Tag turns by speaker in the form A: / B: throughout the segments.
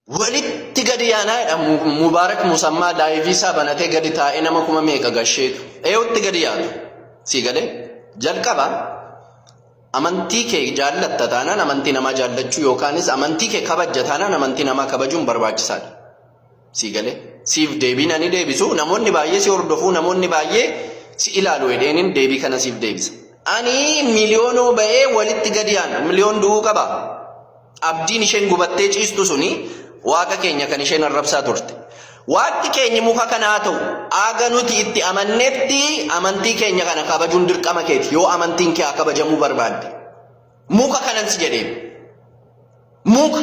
A: Walitti gadi yaanaa jedha Mubaarak Musammaa laayivii isaa banatee gadi taa'ee nama kuma meeqa gasheetu. Eewutti gadi yaatu. Sii galee jalqaba amantii kee jaallatta taanaan amantii namaa jaallachuu yookaanis amantii kee kabajja taanaan amantii namaa kabajuun barbaachisaadha. Sii galee siif deebiin ani deebisu namoonni baay'ee si hordofuu namoonni baay'ee si ilaalu jedheenin deebii kana siif deebisa. Ani miliyoonoo ba'ee walitti gadi yaana miliyoon du'uu qabaa? Abdiin isheen gubattee ciistu suni Waaqa keenya kan isheen arrabsaa turte. Waaqni keenya muka kana haa ta'u, haga nuti itti amannetti amantii keenya kana kabajuun dirqama keeti yoo amantiin kee haa kabajamuu barbaadde. Muka kanan si jedheen. Muka.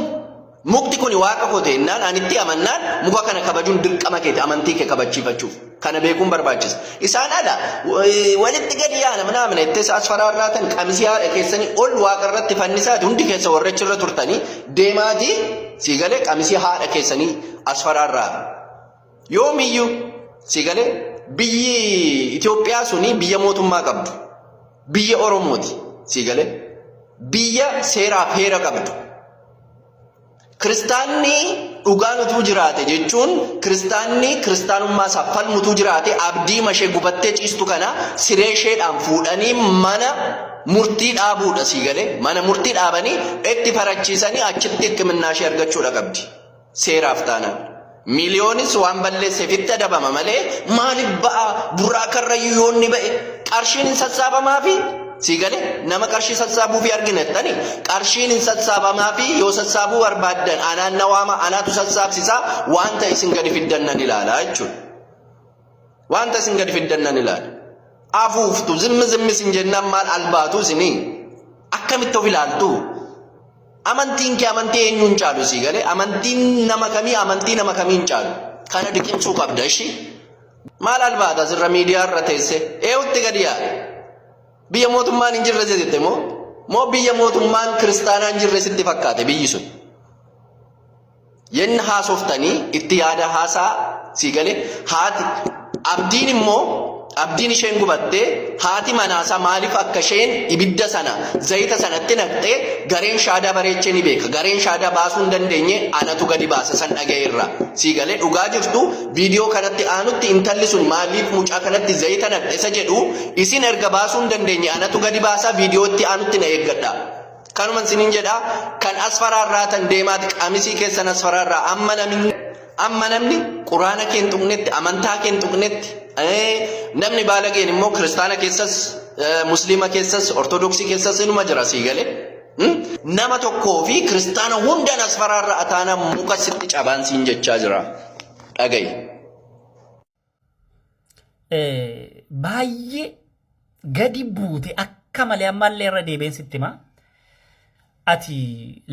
A: Mukti kuni Waaqa koo ta'e jennaan ani itti amannaan muka kana kabajuun dirqama keeti amantii kee kabachiifachuuf. Kana beekuun barbaachisa. Isaan ala walitti gadi yaana minaa mina itti isaas faraarraatan qamisii haadha keessanii ol waaqa irratti fannisaati hundi keessa warrechi irra turtanii deemaati sii galee qamisii haadha keessanii as faraarraa. Yoomiyyuu sii galee biyyi Itoophiyaa suni biyya mootummaa qabdu. Biyya Oromooti sii galee biyya seeraaf heera qabdu. Kiristaanni dhugaan utuu jiraate jechuun kiristaanni kiristaanummaa isaa falmu utuu jiraate abdii mashee gubattee ciistu kana siree isheedhaan fuudhanii mana murtii dhaabuudha sii galee mana murtii dhaabanii itti farachiisanii achitti hikiminnaa ishee argachuudha qabdi seeraaf taanaan. Miiliyoonis waan balleesseef itti adabama malee maaliif ba'a burraa karrayyuu yoo inni ba'e qarshiin hin sassaabamaa fi sii gale nama qarshii sassaabuu fi argina jettani qarshiin hin sassaabamaa fi yoo sassaabuu barbaaddan anaan na waama anaatu sassaabsisaa wanta isin gadi fiddan nan ilaala jechuudha. Wanta isin gadi fiddan nan ilaala. Afuuftu zimmi zimmi isin jennaan maal albaatu isinii? Akkamitti of ilaaltu? Amantiin kee amantii eenyuun caalu sii galee? Amantiin nama kamii amantii nama kamiin caalu? Kana diqimsuu qabda ishii. Maal albaata asirra miidiyaa irra teessee? Eewutti gadi yaa. Biyya mootummaan hin jirre jette moo? Moo biyya mootummaan kiristaanaa hin jirre sitti fakkaate biyyi sun? Yenna haasoftanii itti yaadaa haasaa sii galee haati abdiin immoo abdiin isheen gubattee haati manaasaa maaliif akka isheen ibidda sana zayita sanatti naqxee gareen shaadaa bareechee ni beeka gareen shaadaa baasuu hin dandeenye anatu gadi baasa san dhaga'e irraa sii galee dhugaa jirtu viidiyoo kanatti aanutti intalli sun maaliif mucaa kanatti zayita naqxe isa jedhu isin erga baasuu hin dandeenye anatu gadi baasaa viidiyoo itti aanutti na eeggadha. Kanuman sinin jedha kan asfaraa irraa tan deemaati qamisii keessan asfaraa irraa amma namni amma namni quraana kee hin tuqnetti amantaa kee hin tuqnetti namni baalageen immoo kiristaana keessas musliima keessas ortodoksii keessas inuma jira sii galee. Nama tokkoo fi kiristaana hundaan asfaraa irraa ataana muka sitti cabaan siin jechaa jira dhaga'i. eh,
B: baay'ee gadi buute akka malee ammallee irra deebiin sitti himaa. Ati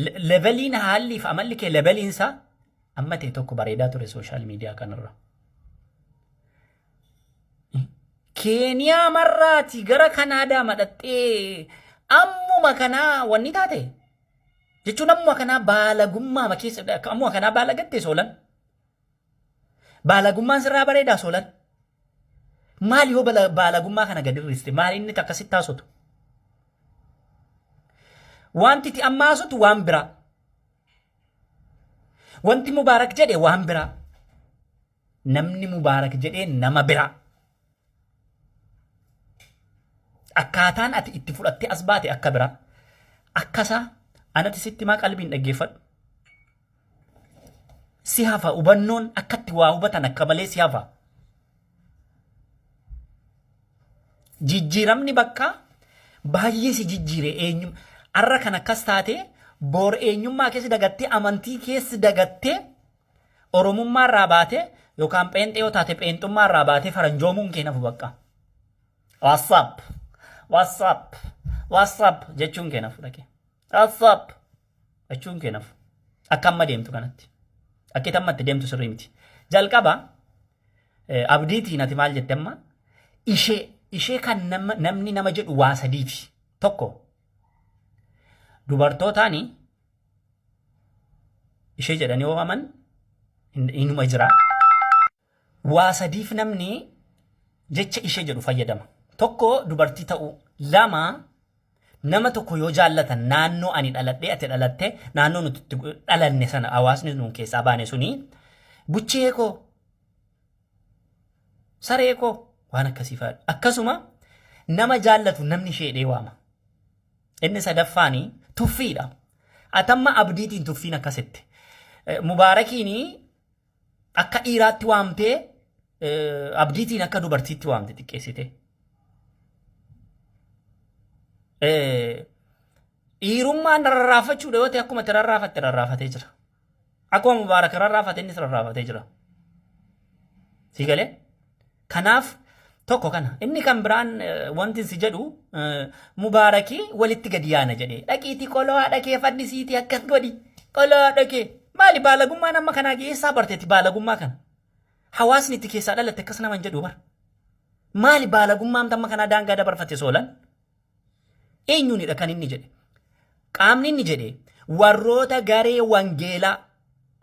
B: le- leveliin haalliif amalli kee leveliin isaa amma ta'e tokko bareedaa ture sooshaal miidiyaa kanarra. Keeniyaa marraati gara Kanaadaa madhaxxee ammuma kanaa wanni taate jechuun ammuma kanaa baalagummaa keessa ammuma kanaa baalagatte soolan. Baalagummaan sirraa bareedaa soolan. Maali hoo bala- baalagummaa kana gad hir'iste? Maali inni takka sitti haasotu? Wanti itti amma haasotu waan biraa. Wanti Mubaarak jedhe waan biraa. Namni Mubaarak jedhee nama biraa. Akkaataan ati itti fudhattee as baate akka biraa. Akkasaa anati sitti maa qalbiin dhaggeeffadhu. si hafa hubannoon akkatti waa hubatan akka malee si hafa. Jijjiiramni bakka baay'ee si jijjiire eenyu har'a kan akkas taate boor eenyummaa keessa dagattee amantii keessa dagattee oromummaa irraa baate yookaan pheenxee yoo taate pheenxummaa irraa baatee faranjoomuun kee nafu bakka. WhatsApp WhatsApp WhatsApp jechuun kee nafu dhaqee. WhatsApp. Dhachuun kee nafu. Akka amma deemtu kanatti. Akka amma itti deemtu sirrii miti. Jalqaba abdiitiin ati maal jette amma ishee ishee kan namni nama jedhu waa sadiiti. Tokko dubartootaani ishee jedhanii oofaman inuma jira. Waa sadiif namni jecha ishee jedhu fayyadama. Tokko dubartii ta'uu. Lama nama tokko yoo jaallatan naannoo ani dhaladhee ati dhalatte naannoo nuti itti gu- dhalanne sana hawaasni nuun keessaa baane suni buchee koo saree koo waan akkasii fa'a. Akkasuma nama jaallatu namni ishee jedhee waama. Inni sadaffaani tuffiidha. Atamma abdiitiin tuffiin akkasitti. Eh, Mubaarakiini Akka dhiiraatti waamtee abdiitiin akka dubartiitti waamte xiqqeessitee. Dhiirummaan rarraafachuudha yoo ta'e akkuma itti rarraafatte rarraafatee jira. Akkuma mubaarak rarraafate innis rarraafatee jira. Sii galee? Kanaaf tokko kana. Inni kan biraan wantin si jedhu Mubaaraki walitti gadi yaana jedhee dhaqiitii qoloo haadha kee fannisiitii akkas godhi qoloo haadha kee maali baalagummaan amma kanaa geessaa barteetti baalagummaa kana hawaasni itti keessaa dhalatte akkas naman jedhu bar maali baalagummaan amma kanaa daangaa dabarfatte soolan Eenyuunidha kan inni jedhe? Qaamni inni jedhe warroota garee wangeelaa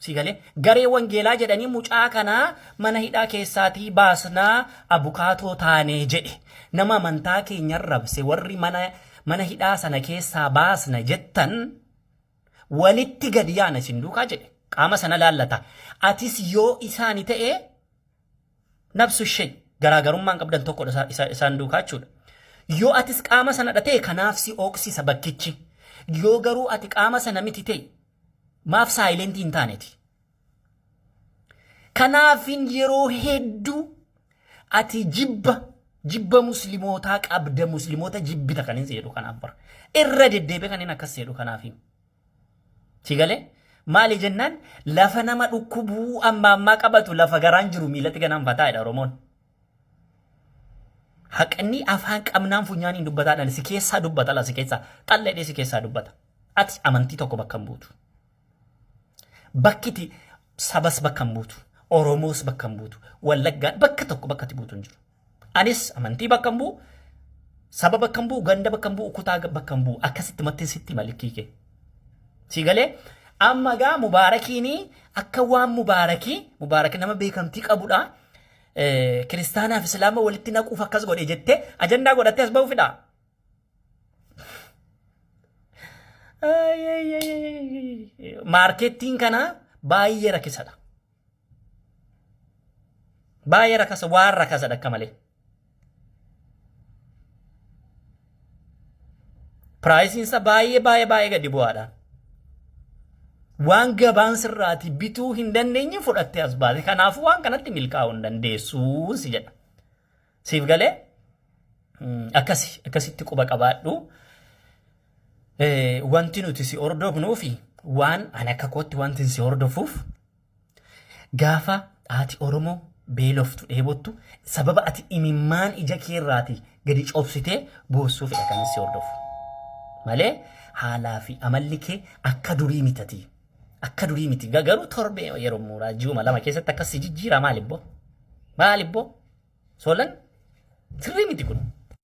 B: si galee garee wangeelaa jedhanii mucaa kanaa mana hidhaa keessaatii baasnaa abukaatoo taanee jedhe nama amantaa keenya rabse warri mana mana hidhaa sana keessaa baasna jettan walitti gad yaana isin duukaa jedhe qaama sana laallata atis yoo isaani ta'e Nabsu ishee garaagarummaan qabdan tokkodha isaan duukaa jechuudha. Yoo atis qaama sanadha ta'e kanaaf si ooksisa bakkichi. Yoo garuu ati qaama sana miti ta'e maaf saayilentii hin taaneti. Kanaafin yeroo hedduu ati jibba jibba muslimootaa qabda muslimoota jibbita kan hin seedhu kanaaf bara. Irra deddeebi'ee kan hin akkas seedhu kanaafin. Si galee? Maali jennaan lafa nama dhukkubuu amma ammaa qabatu lafa garaan jiru miilatti gananfataa jedha Oromoon. Haqni afaan qabnaan funyaaniin dubbataa dhala si keessaa dubbata la si keessaa xalla jedhee si keessaa dubbata. Ati amantii tokko bakka hin buutu. Bakkiti sabas bakka hin buutu. Oromoos bakka hin buutu. Wallaggaan bakka tokko bakka itti buutu hin jiru. Anis amantii bakka hin bu'u, saba bakka hin bu'u, ganda bakka hin bu'u, kutaa bakka hin bu'u. Akkasitti mattiin sitti malikkii kee. Si galee amma gaa mubaarakiin akka waan mubaarakii mubaarak nama beekamtii qabudha. Kiristaanaaf islaama walitti naquuf akkas godhe jettee ajandaa godhattee as ba'uu fidhaa. Maarkeettiin kana baay'ee rakkisadha. Baay'ee rakasa waan rakasadha akka malee. Piraayisiinsa baay'ee baay'ee baay'ee gadi bu'aadha. Waan gabaan sirraati bituu hin dandeenye fudhattee as baate. Kanaafuu waan kanatti milkaa'uu hin dandeessuun si jedha. Siif galee akkasi akkasitti quba qabaadhu. Wanti nuti si hordofnuufi waan ani akka kootti wanti si hordofuuf Gaafa haati Oromoo beeloftu, dheebottu, sababa ati imimmaan ija kee irraati gadi cobsitee boossuufidha kanin si hordofu. Malee haalaa fi amalli kee akka durii mitati. Akka durii miti. Ga- Garuu torbee yeroo muuraa ji'uma lama keessatti akkas si jijjiira maalibboo? Maalibboo? Soolan sirrii miti kun.